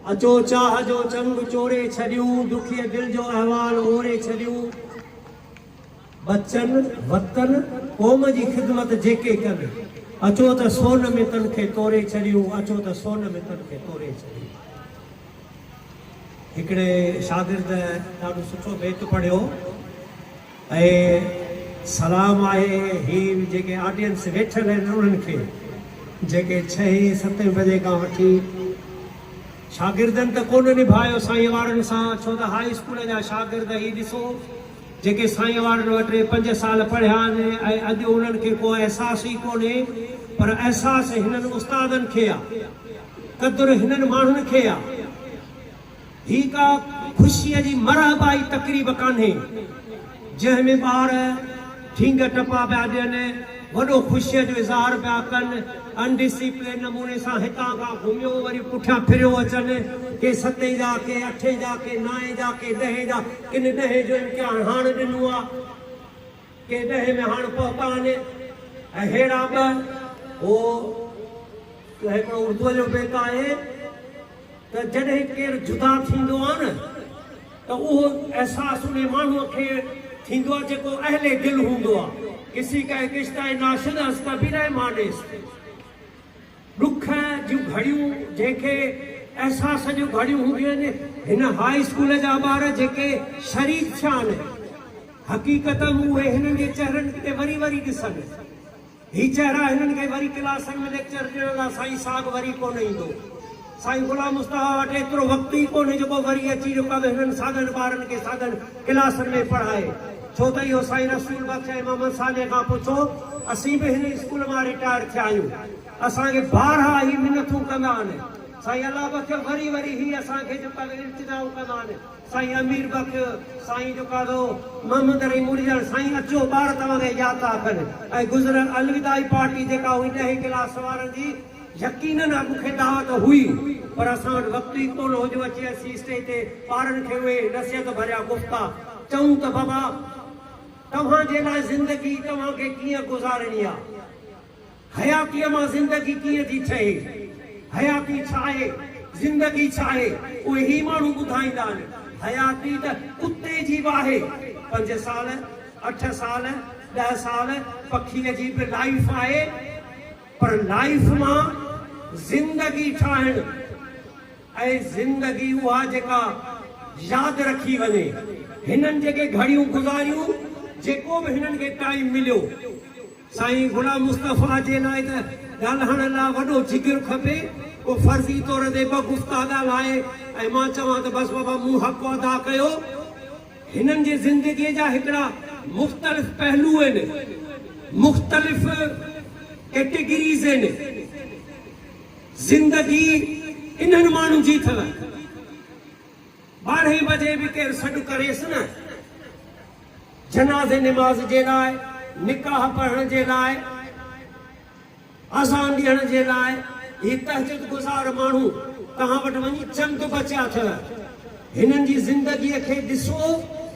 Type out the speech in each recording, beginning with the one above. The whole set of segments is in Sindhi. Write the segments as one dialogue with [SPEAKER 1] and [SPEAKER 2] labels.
[SPEAKER 1] اچو چاهه جو چنگ چوري ڇڏيون، ڏکيء دل جو احوال اوري ڇڏيون. ٻچن، وطن، قوم جي خدمت جيڪي ڪن، اچو ته سون ۾ تن کي توري ڇڏيون، اچو ته سون ۾ تن کي توري ڇڏيون. هڪڙي شاگرد ڏاڍو سٺو بيت پڙهيو. اهي سلام آهي هي جيڪي آڊينس ويٺل آهن انهن کي جيڪي ڇهين ستين بجي کان وٺي شاگردن ته ڪونه نڀايو سائين وارن سان ڇو ته هائي اسڪول جا شاگرد هي ڏسو جيڪي سائين وارن وٽ ٽي پنج سال پڙهيا آهن ۽ اڄ انهن کي ڪو احساس ئي ڪونهي پر احساس هنن استادن کي آ قدر هنن ماڻهن کي آ. هي ڪا خوشيء جي مرحبائي تقريب ڪانهي، جنهن ۾ ٻار ٺينگ ٽپا پيا ڏين، وڏو خوشيء جو اظهار پيا ڪن، ان ڊسيپلين نموني سان هتان کان گهميو وري پٺيان ڦريو اچن. ڪي ستين جا، ڪي اٺين جا، ڪي نائين جا، ڪي ڏهين جا، ڪن ڏهين جو امتحان هاڻ ڏنو آ، ڪي ڏهين ۾ هاڻ پهتا آهن، اهڙا به هو. هڪڙو اردوء جو بيت آهي. ته جڏهن ڪير جدا ٿيندو آ نه ته اهو احساس انهي ماڻهوء کي ٿيندو آ جيڪو اهل دل هوندو آ. ڪسي ڪا ايڪ رشته هي نا شد هست ڪبهي نهي مانيس. ڏک جون گهڙيون جنهن کي احساس جون گهڙيون هونديون آهن هن هاء اسڪول جا ٻار جيڪي شريڪ ٿيا آهن حقيقتن اهي هنن جي چهرن تي وري وري ڏسن هي چهرا هنن کي وري ڪلاسن ۾ ليڪچر ڏيڻ لا سائين صاحب وري ڪونه ايندو. سائين غلام مصطفيٰ وٽ ايترو وقت ئي ڪونهي جيڪو وري اچي جو ڪب هنن ساڳن ٻارن کي ساڳن ڪلاسن ۾ پڙهائي. ڇو ته اهو سائين رسول بخش ۽ محمد صالح کان پڇو اسين به هن اسڪول مان رٽائر ٿيا آهيون. اسان کي بارها هي منٿون ڪندا آهن. سائين الله بخش وري وري هي اسان کي جو ڪب التجائون ڪندا آهن. سائين امير بخش سائين جو ڪاڌو محمد رحيم مڙڄڻ سائين اچو ٻار توهان کي ياد ٿا رکن ۽ گذريل الوداعي پارٽي جيڪا هئي ڏهين ڪلاس وارن جي يقينن اڳ کي دعوت هئي پر اسان وٽ وقت ئي ڪونه هو جو اچي اسين اسٽيج تي ٻارن کي اهي نصيحت ڀريا گفتا چئون ته بابا توهان جي لاء زندگي توهان کي ڪيئن گذارڻي آهي حياتيء مان زندگي ڪيئن ٿي ٺهي؟ حياتي ڇا آهي؟ زندگي ڇا آهي؟ اهي هي ماڻهو ٻڌائيندا آهن. حياتي ته ڪتي جي به آهي. پنج سال، اٺ سال، ڏهه سال پکيء جي به لائيف آهي. پر لائيف مان زندگي ٺاهڻ ۽ زندگي اها جيڪا ياد رکي وڃي. هنن جيڪي گهڙيون گذاريون، جيڪو به هنن کي ٽائيم مليو. سائين غلام مصطفيٰ جي لاء ته ڳالهائڻ لاء وڏو جگر کپي، پوء فرضي طور تي ٻه گفتا ڳالهائي ۽ مان چوان ته بس بابا مون حق ادا ڪيو. هنن جي زندگيء جا هڪڙا مختلف پهلو آهن، مختلف ڪيٽيگريز آهن. زندگي انهن ماڻهن جي اٿل. ٻارهين بجي به ڪير سڏ ڪريس نه جنازي نماز جي لاء، نڪاح پڙهڻ جي لاء، اذان ڏيڻ جي لاء، هي تهجد گذار ماڻهو توهان وٽ وڃي چند بچيا اٿئو، هنن جي زندگي کي ڏسو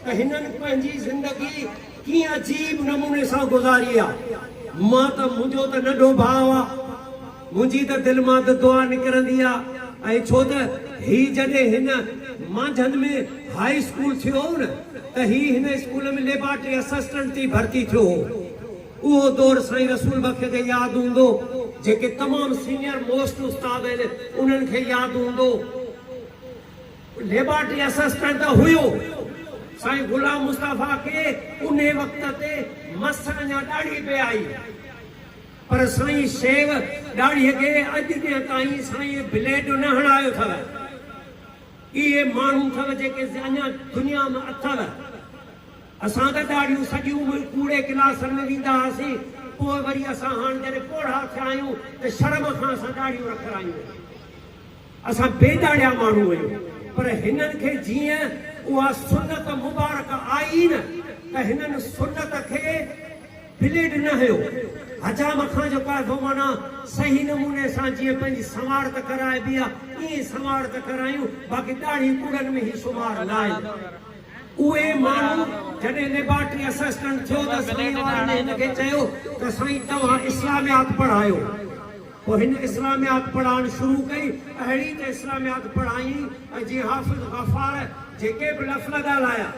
[SPEAKER 1] ته هنن پنهنجي زندگي ڪيئن عجيب نموني سان گذاري آ، مان ته منهنجو ته ننڍو ڀاء آ. منهنجي ته دل مان ته دعا نڪرندي آ ۽ ڇو ته هي جڏهن هن مانجهند ۾ هاء اسڪول ٿيو هو نه ته هي هن اسڪول ۾ ليبارٽري اسسٽنٽ ٿي ڀرتي ٿيو هو اهو دور سائين رسول بخش کي ياد هوندو جيڪي تمام سينيئر موسٽ استاد آهن انهن کي ياد هوندو ليبارٽري اسسٽنٽ ته هيو سائين غلام مصطفيٰ کي انهي وقت تي مس اڃا ڏاڙهي پئي آئي. پر سائين شيو ڏاڙهيء کي اڄ ڏينهن تائين سائين بليڊ نه هڻايو ٿئو. اهي ماڻهو ٿئو جيڪي اڃا دنيا م اٿئو. اسان ته ڏاڙهيون سڄي عمر ڪوڙي ڪلاسن ۾ ويندا هئاسين، پوء وري اسان هاڻ جڏهن پوڙها ٿيا آهيون ته شرم کان اسان ڏاڙهيون رکرايون آهن. اسان بي ڏاڙهيا ماڻهو آهيون، پر هنن کي جيئن اها سنت مبارڪ آئي نه ته هنن سنت کي بليڊ نه هنيو. حجام کان جو ڪاڌو معنيٰ صحيح نموني سان جيئن پنهنجي سنوار ته ڪرائبي آ، ائين سنوار ته ڪرايون، باقي ڏاڙهين ڪوڙن ۾ هي سنوار نه آيو. اهي ماڻهو جڏهن ليبارٽري اسسٽنٽ ٿيو ته ذميواري ۾ هن کي چيو ته سائين توهان اسلاميات پڙهايو. پوء هن اسلاميات پڙهائڻ شروع ڪئي، اهڙي ته اسلاميات پڙهائين ۽ جيئن حافظ غفار جيڪي به لفل ڳالهايا،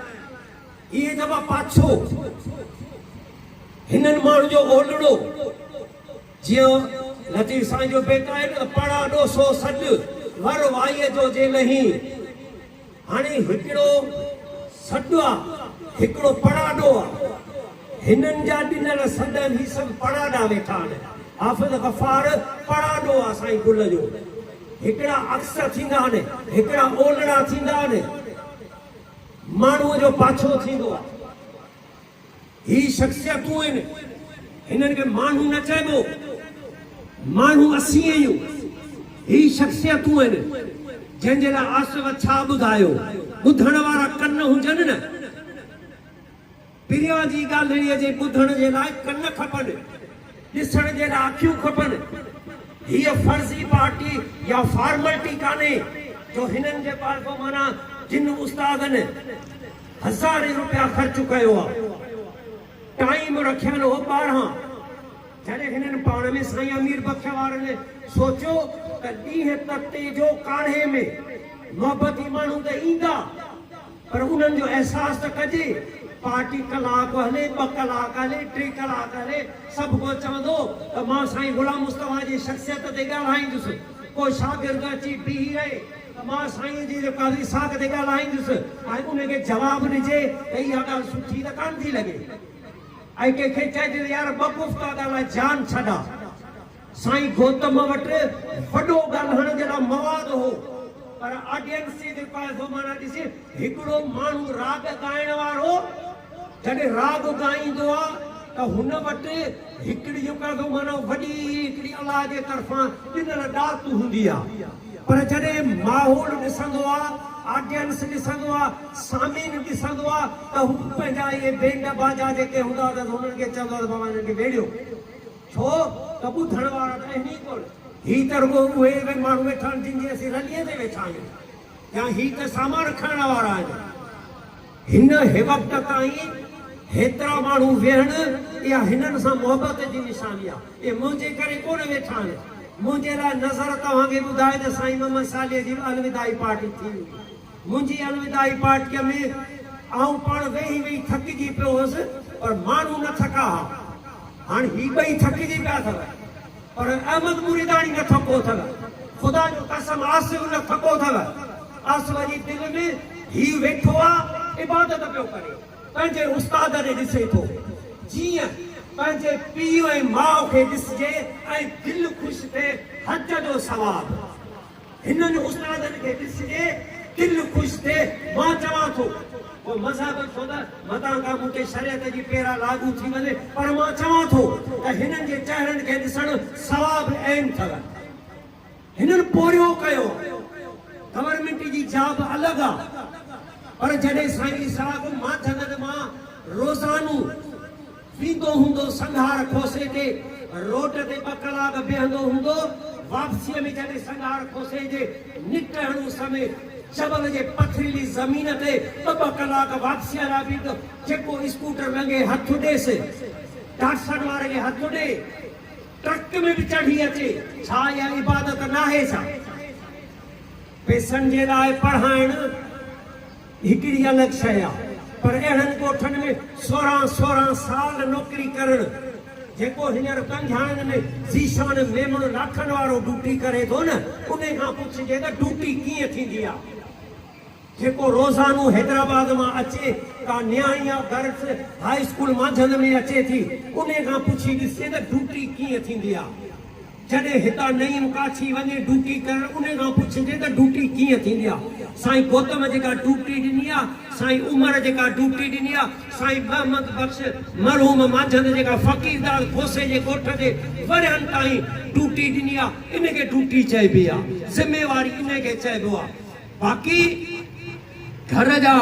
[SPEAKER 1] اهي دٻا پاڇو هنن ماڻهن جو اولڙو جيئن لطيف سائين جو بيت آهي نه پڙا ڏوسو سڏ ور وائيء جو جي نهين هاڻي هڪڙو سڏ آ هڪڙو پڙاڏو آ هنن جا ڏنل سڏ هي سڀ پڙاڏا ويٺا آهن حافظ غفار پڙاڏو آ سائين گل جو هڪڙا عڪس ٿيندا آهن هڪڙا اولڙا ٿيندا آهن. ماڻهوء جو پاڇو ٿيندو آهي. هي شخصيتون آهن، هنن کي ماڻهو نه چئبو، ماڻهو اسين آهيون. هي شخصيتون آهن، جنهن جي لاء آصف ڇا ٻڌايو، ٻڌڻ وارا ڪن هجن نه. پريان جي ڳالهڙيء جي ٻڌڻ جي لاء ڪن کپن، ڏسڻ جي لاء اکيون کپن. هيء فرضي پارٽي يا فارملٽي ڪانهي جو هنن جي پارفومانا جن استادن هزارين روپيا خرچ ڪيو آ. ٽائيم رکيل هو ٻارهن. جڏهن هنن پاڻ ۾ سائين امير بخش وارن سوچيو ته ڏينهن ته تيجو ڪاڙهي ۾ محبتي ماڻهو ته ايندا. پر انهن جو احساس ته ڪجي. پارٽي ڪلاڪ هلي، ٻه ڪلاڪ هلي، ٽي ڪلاڪ هلي، سڀ ڪو چوندو ته مان سائين غلام مصطفيٰ جي شخصيت تي ڳالهائيندس. ڪو شاگرد اچي بيهي رهي ته مان سائينء جي رڪا ويساک تي ڳالهائيندس ۽ ان کي جواب ڏجي ته اها ڳالهه سٺي ته ڪانه ٿي لڳي ۽ ڪنهن کي چئجي ته يار ٻه گفتا ڳالهاء جان ڇڏاء. سائين گوتم وٽ وڏو ڳالهائڻ جي لاء مواد هو پر آڊينسي جي پائزو معنيٰ ڏسي هڪڙو ماڻهو راڳ ڳائڻ وارو جڏهن راڳ ڳائيندو آ ته هن وٽ هڪڙي جو پائزو معنيٰ وڏي هڪڙي الله جي طرفان ڏنل ڏات هوندي آ پر جڏهن ماحول ڏسندو آ آڊينس ڏسندو آ سامعين ڏسندو آ ته هو پنهنجا اهي بينڊ باجا جيڪي هوندا آ ته انهن کي چوندو آ ته بابا هنن کي ويڙهيو. ڇو ته ٻڌڻ وارا ته اهمي ڪونه. هي ته رڳو اهي اهي ماڻهو ويٺا آهن جن جي اسين رليء تي ويٺا آهيون يا هي ته سامان کڻڻ وارا آهن. هن هيوقت تائين هيترا ماڻهو ويهڻ اها هنن سان محبت جي نشاني آهي. اهي منهنجي ڪري ڪونه ويٺا آهن. منهنجي لاء نظر توهان کي ٻڌائي ته سائين محمد صالح جي به الوداعي پارٽي ٿي هوندي. منهنجي الوداعي پارٽيء ۾ آئون پاڻ ويهي ويهي ٿڪجي پيو هوس پر ماڻهو نه ٿڪا ها. هاڻ هي ٻئي ٿڪجي پيا اٿو پر احمد مريداڻي نه ٿڪو اٿو. خدا جو قسم آصف نه ٿڪو اٿو. آصف جي دل ۾ هي ويٺو آ عبادت پيو ڪري. پنهنجي استاد ڏي ڏسي ٿو. جيئن پنهنجي پيء ۽ ماء کي ڏسجي ۽ دل خوش ٿئي. حج جو ثواب. هنن استادن کي ڏسجي دل خوش ٿئي مان چوان ٿو جو مذهب ڇو نه متان کان مون تي شريعت جي پيرا لاڳو ٿي وڃي پر مان چوان ٿو ته هنن جي چهرن کي ڏسڻ ثواب عين ٿو هنن پورهيو ڪيو گورنمينٽ جي جاب الڳ آ پر جڏهن سائين اسحاق ماٿ گن مان روزانو ويندو هوندو سنگهار کوسي تي روڊ تي ٻه ڪلاڪ بيهندو هوندو واپسيء ۾ جڏهن سنگهار کوسي جي نڪهڙ اس ۾ جبل جي پٿريلي زمين تي ٻه ٻه ڪلاڪ واپسيء لاء بيهندو جيڪو اسڪوٽر لنگهي هٿ ڏيس ڊاٽسن واري کي هٿ ڏي ٽرڪ ۾ به چڙهي اچي ڇا اها عبادت ناهي ڇا پئسن جي لاء پڙهائڻ. هڪڙي الڳ شيء آ پر اهڙن ڳوٺن ۾ سورهن سورهن سال نوڪري ڪرڻ جيڪو هينئر پنجاهن ۾ ذيشان ميمڻ لاکن وارو ڊوٽي ڪري ٿو نه انهي کان پڇجي ته ڊوٽي ڪيئن ٿيندي آ جيڪو روزانو حيدرآباد مان اچي ڪا نياڻي آ گرلس هاء اسڪول مانجهند ۾ اچي ٿي انهي کان پڇي ڏسجي ته ڊوٽي ڪيئن ٿيندي آ. جڏهن هتان نعيم ڪاڇي وڃي ڊوٽي ڪرڻ انهي کان پڇجي ته ڊوٽي ڪيئن ٿيندي آ سائين گوتم جيڪا ڊوٽي ڏني آ سائين عمر جيڪا ڊوٽي ڏني آ سائين محمد بخش مرحوم مانجهند جيڪا فقيرداد کوسي جي ڳوٺ تي ورهين تائين ڊوٽي ڏني آ ان کي ڊوٽي چئبي آ ذميواري انهي کي چئبو آ باقي گهر جا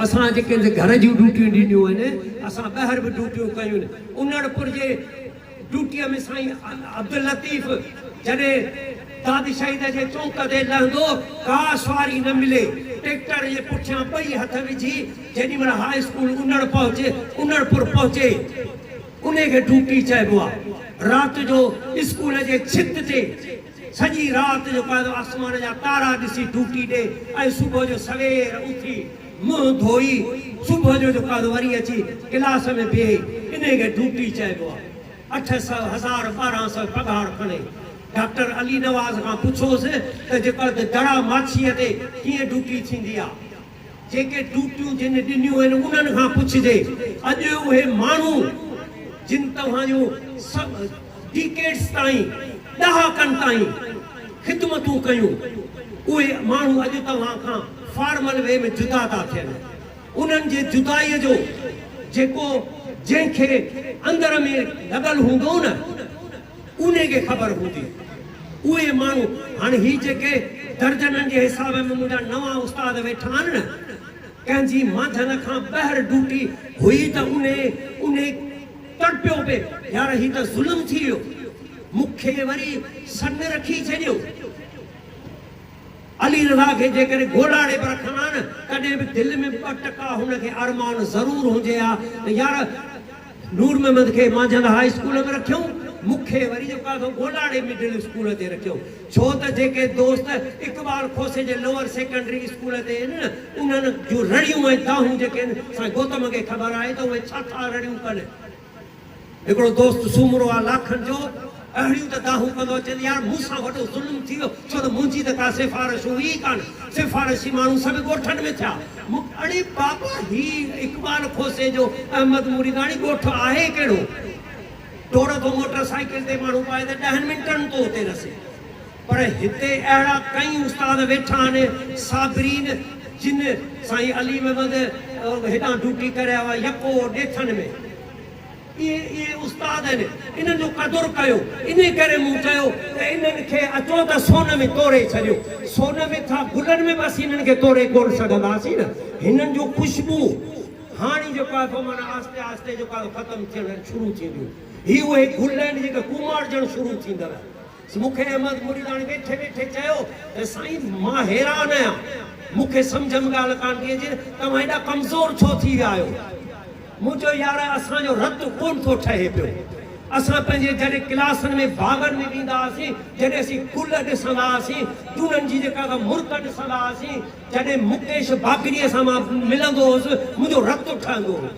[SPEAKER 1] اسان جيڪي گهر جون ڊوٽيون ڏنيون آهن اسان ٻهر به ڊوٽيون ڪيون انڙپور جي ڊيوٽيء ۾ سائين عبداللطيف جڏهن داد شهيد جي چونڪ تي لهندو، ڪا سواري نه ملي. ٽيڪٽر جي پٺيان ٻئي هٿ وجهي جيڏي مهل هاء اسڪول انڙ پهچي، انڙپور پهچي، انهي کي ڊيوٽي چئبو آ. رات جو اسڪول جي ڇت تي سڄي رات جو قائد آسمان جا تارا ڏسي ڊيوٽي ڏي ۽ صبح جو سوير اٿي، منهن ڌوئي صبح جو جو ڪاروباري اچي ڪلاس ۾ بيهي انهي کي ڊوٽي چئبو آهي. اٺ سئو، هزار، ٻارهن سئو پگهار کڻي. ڊاڪٽر علي نواز کان پڇوس ته جيڪر ته جڙا ماڇيء تي ڪيئن ڊوٽي ٿيندي آهي. جيڪي ڊوٽيون جن ڏنيون آهن انهن کان پڇجي. اڄ اهي ماڻهو جن توهان جون سڀ. ڊيڪيڊز تائين، ڏهاڪن تائين، خدمتون ڪيون، اهي ماڻهو اڄ توهان کان فارمل وي ۾ جدا ٿا ٿين. انهن جي جدائيء جو جيڪو جنهن کي اندر ۾ لڳل هوندو نه، انهي کي خبر هوندي. اهي ماڻهو، هاڻ هي جيڪي درجنن جي حساب ۾ منهنجا نوان استاد ويٺا آهن نه، ڪنهن جي مانجهند کان ٻاهر ڊوٽي هئي ته انهي، انهي. تڙپيو پئي يار هي ته ظلم ٿي ويو مون کي وري سنگ رکي ڇڏيو علي رضا کي جيڪڏهن گوڏاڙي به رکان ها نه تڏهن به دل ۾ ٻه ٽڪا هن کي ارمان ضرور هجي ها ته يار نور محمد کي مانجهند هاء اسڪول ۾ رکيو مون کي وري جيڪو آهي سو گوڏاڙي مڊل اسڪول تي رکيو. ڇو ته جيڪي دوست اقبال کوسي جي لوئر سيڪنڊري اسڪول تي ان انهن جون رڙيون ۽ دانهون جيڪي ان سائين گوتم کي خبر آهي ته اهي ڇا ٿا رڙيون ڪن. هڪڙو دوست سومرو آهي لاکن جو اهڙيون ته دانهون ڪندو اچي ته يار مون سان وڏو ظلم ٿي ويو ڇو ته منهنجي ته ڪا سفارش هئي ئي ڪانه سفارشي ماڻهو سڀ ڳوٺن ۾ ٿيا مون اڙي بابا هي اقبال کوسي جو احمد مريداڻي ڳوٺ آهي ڪهڙو. ڊوڙ به موٽر سائيڪل تي ماڻهو پائي ته ڏهن منٽن ۾ ٿو اتي رسي پر هتي اهڙا ڪئين استاد ويٺا آهن صابرين جن سائين علي محمد هيڏانهن ڊيوٽي ڪري آيو آهي يڪو ڏيٿن ۾ اهي اهي استاد آهن انهن جو قدر ڪيو انهي ڪري مون چيو ته انهن کي اچو ته سون ۾ توري ڇڏيو سون ۾ ڇا گلن ۾ به اسين انهن کي توري ڪونه سگهنداسين نه هنن جون خوشبو هاڻي جيڪو آهي سو معنيٰ آهستي آهستي جيڪو آهي سو ختم ٿيڻ شروع ٿينديون. هي اهي گل آهن جيڪي ڪوماڙجڻ شروع ٿيندڙ آهن. مون کي احمد مريداڻي ويٺي ويٺي چيو ته سائين مان حيران آهيان. مون کي سمجهه ۾ ڳالهه ڪانه پئي اچي توهان ايڏا ڪمزور ڇو ٿي ويا آهيو. مون چيو يار اسان جو رت ڪونه ٿو ٺهي پيو. اسان پنهنجي جڏهن ڪلاسن ۾ باغن ۾ ويندا هئاسين جڏهن اسين گل ڏسندا هئاسين جونن جي جيڪا مرڪ ڏسندا هئاسين. جڏهن مڪيش باگڙيء سان مان ملندو هوس، منهنجو رت ٺهندو هو.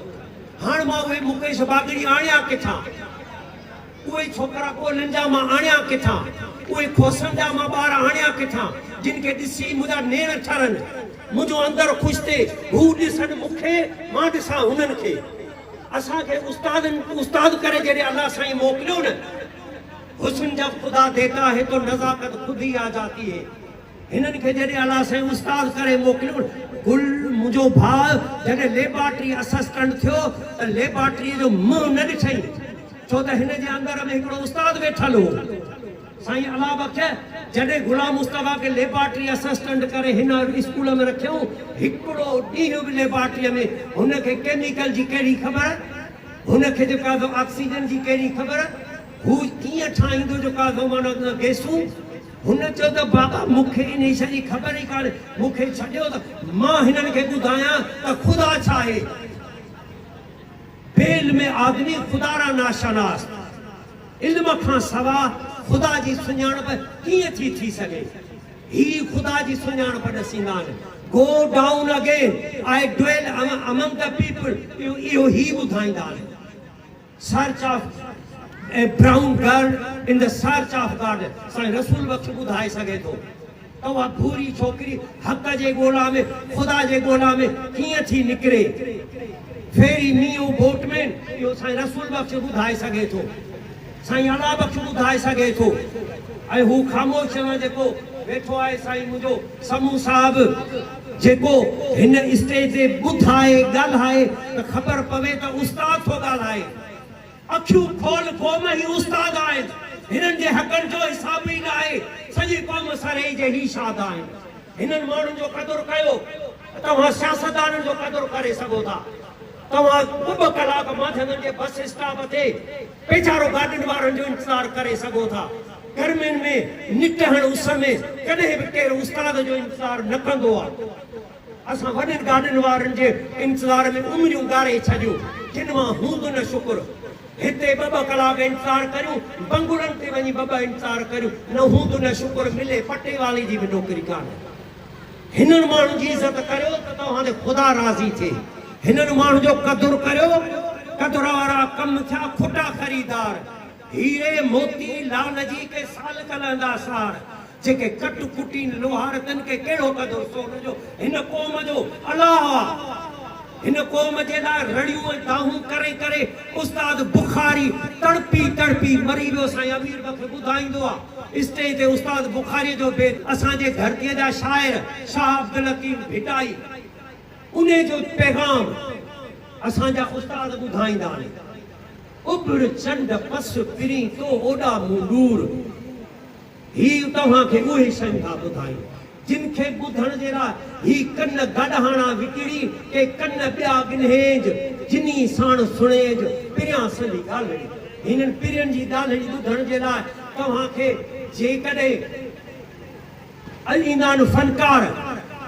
[SPEAKER 1] هاڻ مان اهي مڪيش باگڙي آڻيان ڪٿان؟ اهي ڇوڪرا ڳولهين جا مان آڻيان ڪٿان؟ اهي کوسن جا مان ٻار آڻيان ڪٿان؟ جن کي ڏسي منهنجا نيڻ ٺرن. منهنجو اندر خوش ٿئي. هو ڏسن مون کي، مان ڏسان هنن کي. اسان کي استادن استاد ڪري جڏهن الله سائين موڪليو نه. حسن جب خدا ديتا هي تو نزاڪت خود هي آ جاتي هي. هنن کي جڏهن الله سائين استاد ڪري موڪليو، گل منهنجو ڀاء جڏهن ليبارٽري اسسٽنٽ ٿيو ته ليبارٽريء جو منهن نه ڏٺئي، ڇو ته هن جي اندر ۾ هڪڙو استاد ويٺل هو. سائين الله بخش جڏهن غلام مصطفيٰ کي ليبارٽري اسسٽنٽ ڪري هن اسڪول ۾ رکيائون، هڪڙو ڏينهن به ليبارٽريء ۾ هن کي ڪيميڪل جي ڪهڙي خبر، هن کي جو ڪاربو آڪسيجن جي ڪهڙي خبر، هو ڪيئن ٺاهيندو جو ڪاربو مانو گئسون، هن چيو ته بابا مون کي ان شيء جي خبر ئي ڪانهي، مون کي ڇڏيو ته مان هنن کي ٻڌايان ته خدا ڇا آهي. بي علم آدمي خدا را ناشناس، علم کان سوا خدا جي سڃاڻپ ڪيئن ٿي ٿي سگهي. هي خدا جي سڃاڻپ ڏسيندا آهن. Go down again I dwell among the people اهو هي ٻڌائيندا آهن. Search of a brown girl in the search of God سائين رسول بخش ٻڌائي سگهي ٿو ته اها ڀوري ڇوڪري حق جي ڳولا ۾ خدا جي ڳولا ۾ ڪيئن ٿي نڪري ferry me o boatman اهو سائين رسول بخش ٻڌائي سگهي ٿو سائين الله بخش ٻڌائي سگهي ٿو ۽ هو خاموش جيڪو ويٺو آهي سائين منهنجو سمون صاحب جيڪو هن اسٽيج تي ٻڌائي، ڳالهائي ته خبر پوي ته استاد ٿو ڳالهائي. اکيون کول قوم هي استاد آهن. هنن جي حقن جو حساب ئي ناهي. سڄي قوم سرهي جي هي شاد آهن. هنن ماڻهن جو قدر ڪيو ته توهان سياستدانن جو قدر ڪري سگهو ٿا. توهان ٻه ٻه ڪلاڪ مانجهندن جي بس اسٽاپ تي ويچارو گاڏين وارن جو انتظار ڪري سگهو ٿا. گرمين ۾ نڪهڻ اس ۾ ڪڏهن به ڪير استاد جو انتظار نه ڪندو آ. اسان وڏين گاڏين وارن جي انتظار ۾ عمريون ڳاري ڇڏيون جن مان هوند نه شڪر. هتي ٻه ٻه ڪلاڪ انتظار ڪريون بنگلن تي وڃي ٻه ٻه انتظار ڪريون نه هوند نه شڪر ملي پٽيوالي جي به نوڪري ڪانهي. هنن ماڻهن جي عزت ڪريو ته توهان تي خدا راضي ٿئي. هنن ماڻهن جو قدر ڪريو. قدر وارا ڪم ٿيا کوٽا خريدار. هيري، موتي، لعل جي ڪي سال ڪل هندا سار. جيڪي ڪٽ ڪٽين لوهار تن کي ڪهڙو قدر سون جو هن قوم جو الاهه آ. هن قوم جي لاء رڙيون ۽ دانهون ڪري ڪري استاد بخاري تڙپي تڙپي مري ويو سائين امير بخش ٻڌائيندو آ اسٽيج تي استاد بخاري جو بيت اسان جي ڌرتي جا شاعر شاهه عبدالحڪيم ڀٽائي انهي جو پيغام اسان جا استاد ٻڌائيندا آهن اڀڙ چنڊ پس پرين تو اوڏا مون ڏور. هي توهان کي اهي شيون ٿا ٻڌائين جن کي ٻڌڻ جي لاء هي ڪن گڏهاڻا وڪڻي ڪي ڪن ٻيا ڳنهيج جنهي ساڻ سڻيج پريان سندي ڳالهڙي. هنن پرين جي ڳالهڙي ٻڌڻ جي لاء توهان کي جيڪڏهن الايمان فنڪار،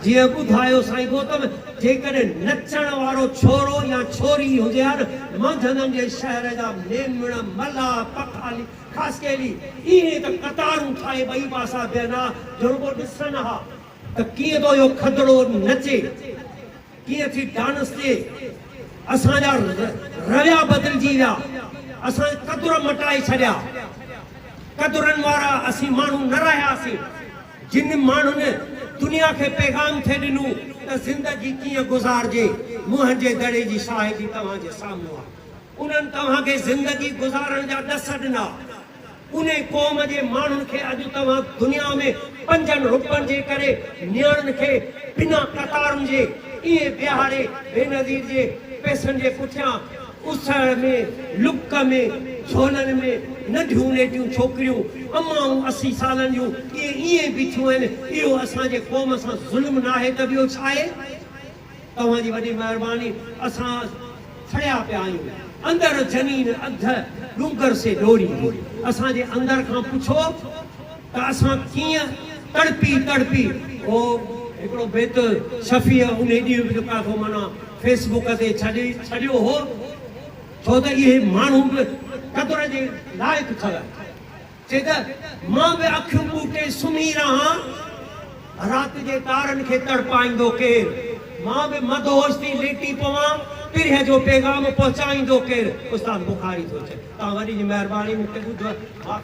[SPEAKER 1] جيئن ٻڌايو سائين گوتم، جيڪڏهن نچڻ وارو ڇورو يا ڇوري هجي ها نه مانڌنن جي شهر جا ميمڻ، ملاح، پکالي، خاصخيلي ايئن ته قطارون ٺاهي ٻئي پاسا بيهن ها جو رڳو ڏسن ها ته ڪيئن ٿو اهو کدڙو نچي، ڪيئن ٿي ڊانس ڏي. اسان جا رويا بدلجي ويا، اسان قدر مٽائي ڇڏيا. قدرن وارا اسين ماڻهو نه رهياسين، جن ماڻهن دنيا کي پيغام ٿي ڏنو ته زندگي ڪيئن گذارجي، منهنجي دڙي جي شاهدي توهان جي سامهون آهي. انهن توهان کي زندگي گذارڻ جا ڏس ڏنا. انهي قوم جي ماڻهن کي اڄ توهان دنيا ۾ پنجن رپن جي ڪري نياڻين کي بنا قطارن جي ائين ويهاري بينظير جي پئسن جي پٺيان اس ۾ لڪ ۾ جهولن ۾ ننڍيون نيٽيون ڇوڪريون امائون اسي سالن جون ائين ائين بيٺيون آهن اهو اسان جي قوم سان ظلم ناهي ته ٻيو ڇاهي؟ توهان جي وڏي مهرباني اسان سڙيا پيا آهيون اندر جنين اڌ ڏونگر سي ڏوري اسان جي اندر کان پڇو ته اسان ڪيئن تڙپي تڙپي او هڪڙو بيت شفيع انهي ڏينهن به ڪاٿو معنيٰ فيس بوڪ تي ڇڏي ڇڏيو هو ڇو ته اهي ماڻهو به قدر جي لائق ٿل. چي ته مان به اکيون پوٽي سمهي رهان، رات جي تارن کي تڙپائيندو ڪير؟ مان به مدهوش ٿي ليٽي پوان، پرهه جو پيغام پهچائيندو ڪير؟ استاد بخاري ٿو چئي، توهان وڏي جي مهرباني مون کي ٻڌو آهي.